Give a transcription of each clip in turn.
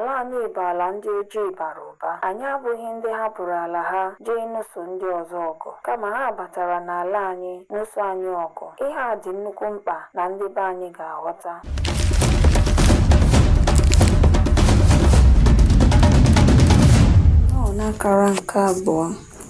Ala anyị bụ ala ndị ojii bara ụba. Anyị abụghị ndị hapụrụ ala ha jee ịnụso ndị ọzọ ọgụ, kama ha batara n'ala anyị nụso anyị ọgụ. Ihe a dị nnukwu mkpa na ndị be anyị ga-aghọta. Ọ nọ n'akara nke abụọ.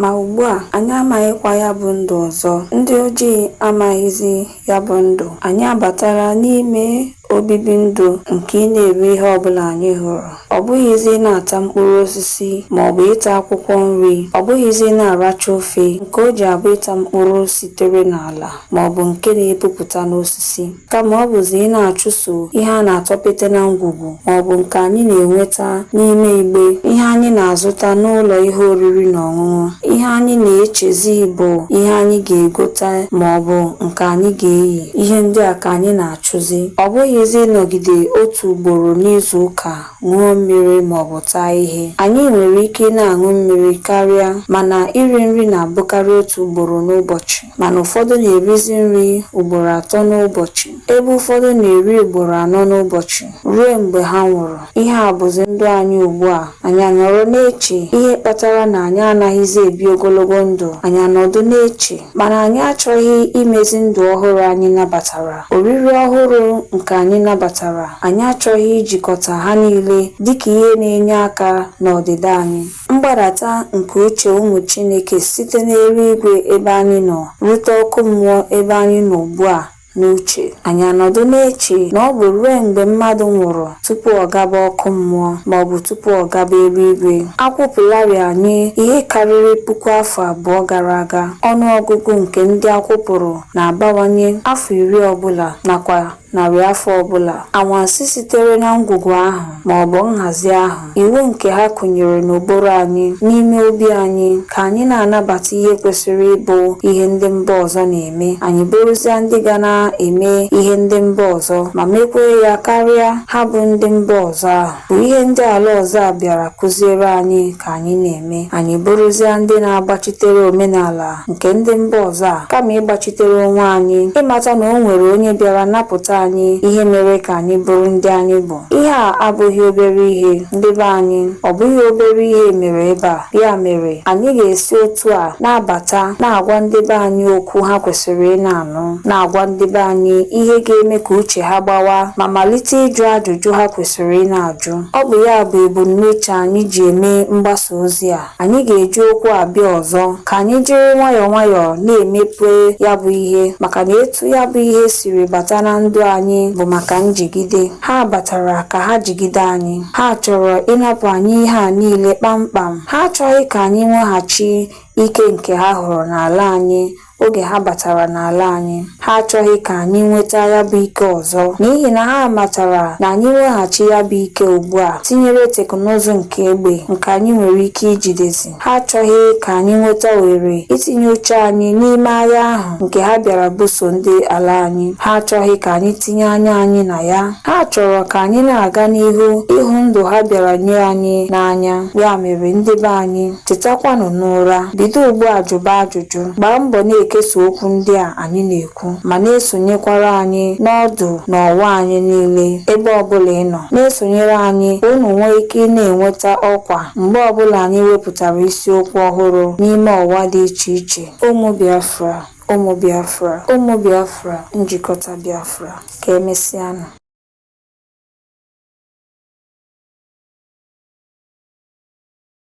Ma ugbu a, anyị amaghịkwa ya bụ ndụ ọzọ. Ndị ojii amaghịzi ya bụ ndụ. Anyị abatala n'ime obibi ndụ nke ịna-eri ihe ọbụla anyị hụrụ. Ọ bụghịzi ịna-ata mkpụrụ osisi ma ọ bụ ịta akwụkwọ nri. Ọ bụghịzi na-aracha ofe nke o ji abụ ịta mkpụrụ sitere n'ala ma ọ bụ nke na-epupụta n'osisi. kama ọ bụzi ịna-achụso ihe a na-atọpete na ngwugwu ma ọ bụ nke anyị na-enweta n'ime igbe, ihe anyị na-azụta n'ụlọ ihe oriri na ọṅụṅụ, ihe anyị na-echezi bụ ihe anyị ga-egote ma ọ bụ nke anyị ga-eyi, ihe ndị a ka anyị na-achụzi. Ọ bụghịzi ịnọgide otu ugboro n'izu ụka ṅụọ mmiri ma ọ bụ taa ihe. Anyị nwere ike ịna-aṅụ mmiri karịa, mana iri nri na-abụkarị otu ugboro n'ụbọchị. mana ụfọdụ na-erizi nri ugboro atọ n'ụbọchị, ebe ụfọdụ na-eri ugboro anọ n'ụbọchị ruo mgbe ha nwụrụ. Ihe a bụzi ndụ anyị ugbu a. Anyị anọrọ na-eche ihe kpatara na anyị anaghịzi ebi ogologo ndụ, anyị anọdụ na-eche, mana anyị achọghị imezi ndụ ọhụrụ anyị nabatara, oriri ọhụrụ nke anyị nabatara, anyị achọghị ijikọta ha niile dịka ihe na-enye aka n'ọdịda anyị. Mgbadata nke uche ụmụ Chineke site n'eluigwe ebe anyị nọ rute ọkụ mmụọ ebe anyị nọ ugbu a n'uche. Anyị anọdụ na-eche na ọ bụ ruo mgbe mmadụ nwụrụ tupu ọ gaba ọkụ mmụọ ma ọ bụ tupu ọ gaba eluigwe. A kwụpụlarị anyị ihe karịrị puku afọ abụọ gara aga. Ọnụ ọgụgụ nke ndị a kwụpụrụ na-abawanye afọ iri ọ bụla nakwa narị afọ ọbụla. Anwansi sitere na ngwugwu ahụ ma ọ bụ nhazi ahụ, iwu nke ha kụnyere n'ụbụrụ anyị, n'ime obi anyị, ka anyị na-anabata ihe kwesịrị ịbụ ihe ndị mba ọzọ na-eme, anyị bụrụzia ndị ga na-eme ihe ndị mba ọzọ ma mekwee ya karịa ha bụ ndị mba ọzọ ahụ. bụ ihe ndị ala ọzọ a bịara kụziere anyị ka anyị na-eme anyị bụrụzia ndị na-agbachitere omenala nke ndị mba ọzọ a kama ịgbachitere onwe anyị ịmata na o nwere onye bịara napụta anyị ihe mere ka anyị bụrụ ndị anyị bụ ihe a abụghị obere ihe ndị be anyị ọ bụghị obere ihe mere ebe a ya mere anyị ga-esi otu a na-abata na-agwa ndị be anyị okwu ha kwesịrị ịna-anụ na-agwa ndị be anyị ihe ga-eme ka uche ha gbawaa ma malite ịjụ ajụjụ ha kwesịrị ị na-ajụ. Ọ bụ ya bụ ebumnuche anyị ji eme mgbasa ozi a. Anyị ga-eji okwu a bịa ọzọ. Ka anyị jiri nwayọọ nwayọọ na-emepe ya bụ ihe maka na etu ya bụ ihe siri bata na ndụ anyị bụ maka njigide. Ha batara ka ha jigide anyị. Ha chọrọ ịnapụ anyị ihe a niile kpamkpam. Ha achọghị ka anyị nweghachi ike nke ha hụrụ n'ala anyị oge ha batara n'ala anyị ha achọghị ka anyị nweta ya bụ ike ọzọ n'ihi na ha matara na anyị nweghachi ya bụ ike ugbu a tinyere teknụzụ nke egbe nke anyị nwere ike ijidezi ha achọghị ka anyị nweta ohere itinye uche anyị n'ime agha ahụ nke ha bịara buso ndị ala anyị ha achọghị ka anyị tinye anya anyị na ya ha chọrọ ka anyị na-aga n'ihu ịhụ ndụ ha bịara nye anyị n'anya ya mere ndị be anyị Tetakwanụ n'ụra, bido ugbu a jụba ajụjụ, gbaa mbọ na-ekesa okwu ndị a anyị na-ekwu, ma na-esonyekwara anyị n'ọdụ na ọwa anyị niile ebe ọbụla ị nọ. Na-esonyere anyị ka unu nwee ike ị na-enweta ọkwa mgbe ọbụla anyị wepụtara isiokwu ọhụrụ n'ime ọwa dị iche iche. Ụmụ Biafra, ụmụ Biafra, ụmụ Biafra, njikọta Biafra. Ka emesịanụ.